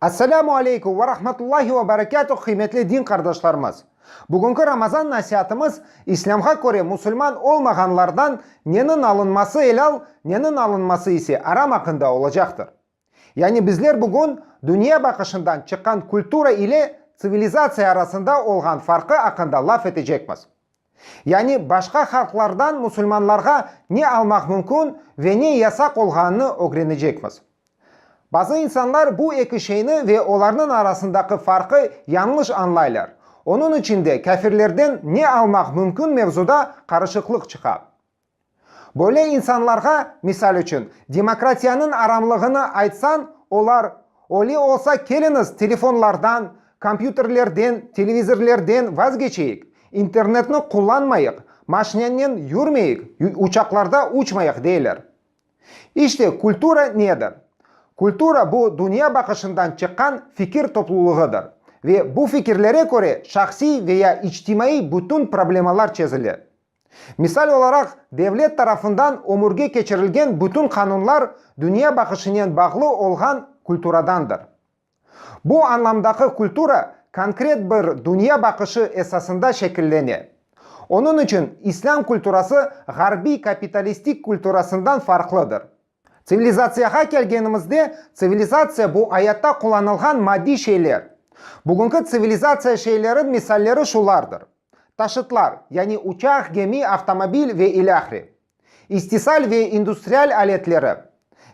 Esselamu aleykum ve rahmetullahi ve berekatuh qıymetli din qardaşlarımız! Bugünki Ramazan nasiatımız İslâmğa köre musulman olmağanlardan nenin alınması elâl, nenin alınması ise aram aqqında olacaqtır. Yani bizler bugün dünya baqışından çıqqan kultura ile tsivilizatsiya arasında olğan farqı aqqında laf etecekmiz. Yani başqa halqlardan musulmanlarğa ne almaq mümkün ve ne yasaq olğanını ögrenecekmiz. Bazı insanlar bu eki şeyni ve olarnıñ arasındaqı farqı yañlış añlaylar, onıñ içün de kâfirlerden ne almaq mümkün mevzuda qarışıqlıq çıqa. Böyle insanlarğa, misal içün, demokratiyanıñ aramlığını aytsañ, olar, Öyle olsa, keliñiz, telefonlardan, kompyuterlerden, televizorlerden vazgeçeyik, internetni qullanmayıq, maşinannen yürmeyik, uçaqlarda uçmayıq, deyler. İşte, kultura nedir? Kultura, bu dünya baqışından çıqqan fikir toplulığıdır ve bu fikirlere köre şahsiy veya içtimaiy bütün problemalar çezile. Misal olaraq, devlet tarafından ömürge keçirilgen bütün qanunlar dünya baqışınen bağlı olğan kulturadandır. Bu añlamdaki kultura konkret bir dünya baqışı esasında şekillene. Onıñ içün İslâm kulturası ğarbiy kapitalistik kulturasından farqlıdır. Tsivilizatsiyağa kelgenimizde, tsivilizatsiya, bu ayatta qullanılğan maddiy şeyler. Bugünki tsivilizatsiya şeylerin misalleri şulardır, taşıtlar, yani uçaq, gemi, avtomobil ve ilâhre, istisal ve industrial aletleri,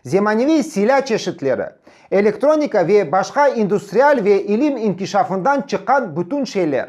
zemaneviy silâ çeşitleri, elektronika ve başqa industrial ve ilim inkişafından çıqqan bütün şeyler.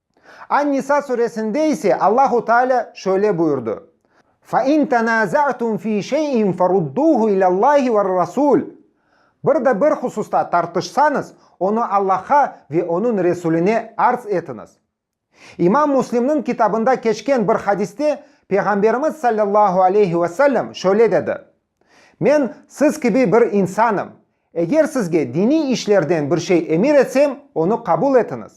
An-Nisa suresinde ise Allahu Teala şöyle buyurdı, Fe in tenaza'tum fi şey'in ferudduhu ilâllâhi ve'r-Rasûl, Bir de bir hususta tartışsañız, onı Allah'a ve Onıñ Resuline arz etiñiz. İmam Müslimniñ kitabında keçken bir hadiste Peyğamberimiz sallallahu aleyhi ve sellem şöyle dedi, Men siz kibi bir insanım. Eger sizge diniy işlerden bir şey emir etsem, onı qabul etiñiz.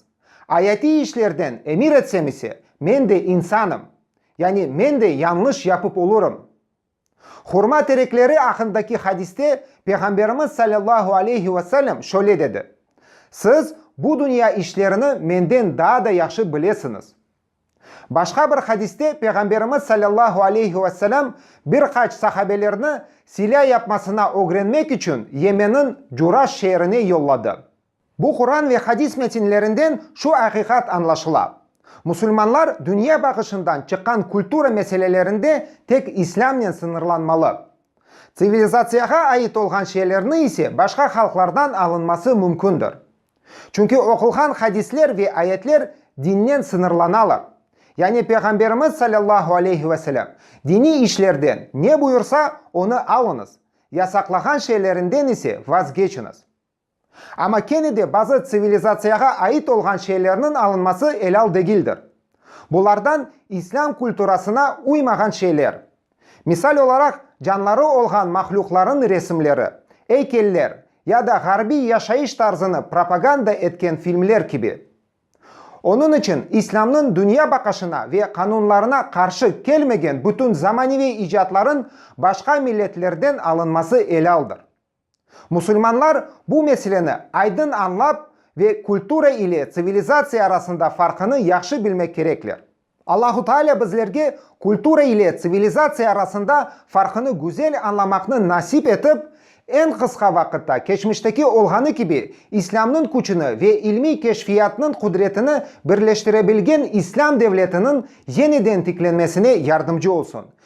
Ayatiy işlerden emir etsem ise, men de insanım. Yani men de yañlış yapıp olurım. Hurma terekleri aqındaki hadiste Peyğamberimiz sallallahu aleyhi ve sellem şöyle dedi, Siz bu dünya işlerini menden daa da yahşı bilesiñiz. Başqa bir hadiste Peyğamberimiz salâllahu aleyhi ve selâm bir qaç sahabelerni silâ yapmasına ögrenmek içün Yemenniñ Curaş şeerine yolladı. Bu Quran ve hadis metinlerinden şu aqiqat añlaşıla, musulmanlar dünya baqışından çıqqan kultura meselelerinde tek İslâmnen sıñırlanmalı, tsivilizatsiyağa ait olğan şeylerni ise başqa halqlardan alınması mümkündir. Çünki oqulğan hadisler ve ayetler dinnen sıñırlanalar. Yani Peyğamberimiz salâllahu aleyhi ve selâm, diniy işlerden ne buyursa, onı alıñız, yasaqlağan şeylerinden ise vazgeçiñiz. Amma kene de bazı tsivilizatsiyağa ait olğan şeylerniñ alınması elâl degildir. Bulardan İslâm kulturasına uymağan şeyler, Misal olaraq, canları olğan mahlüqlarnıñ resimleri, eykeller ya da ğarbiy yaşayış tarzını propaganda etken filmler kibi. Onıñ içün İslâmnıñ dünya baqışına ve qanunlarına qarşı kelmegen bütün zamaneviy icatlarnıñ başqa milletlerden alınması elaldır. Musulmanlar bu meseleni aydın añlap ve kultura ile tsivilizatsiya arasında farqını yahşı bilmek kerekler. Allahu Taalâ bizlerge kultura ile tsivilizatsiya arasında farqını güzel añlamaqnı nasip etip, eñ qısqa vaqıtta keçmişteki olğanı kibi İslâmnıñ küçüni ve ilmiy keşfiyatnıñ qudretini birleştirebilgen İslâm devletiniñ yeniden tiklenmesine yardımcı olsun,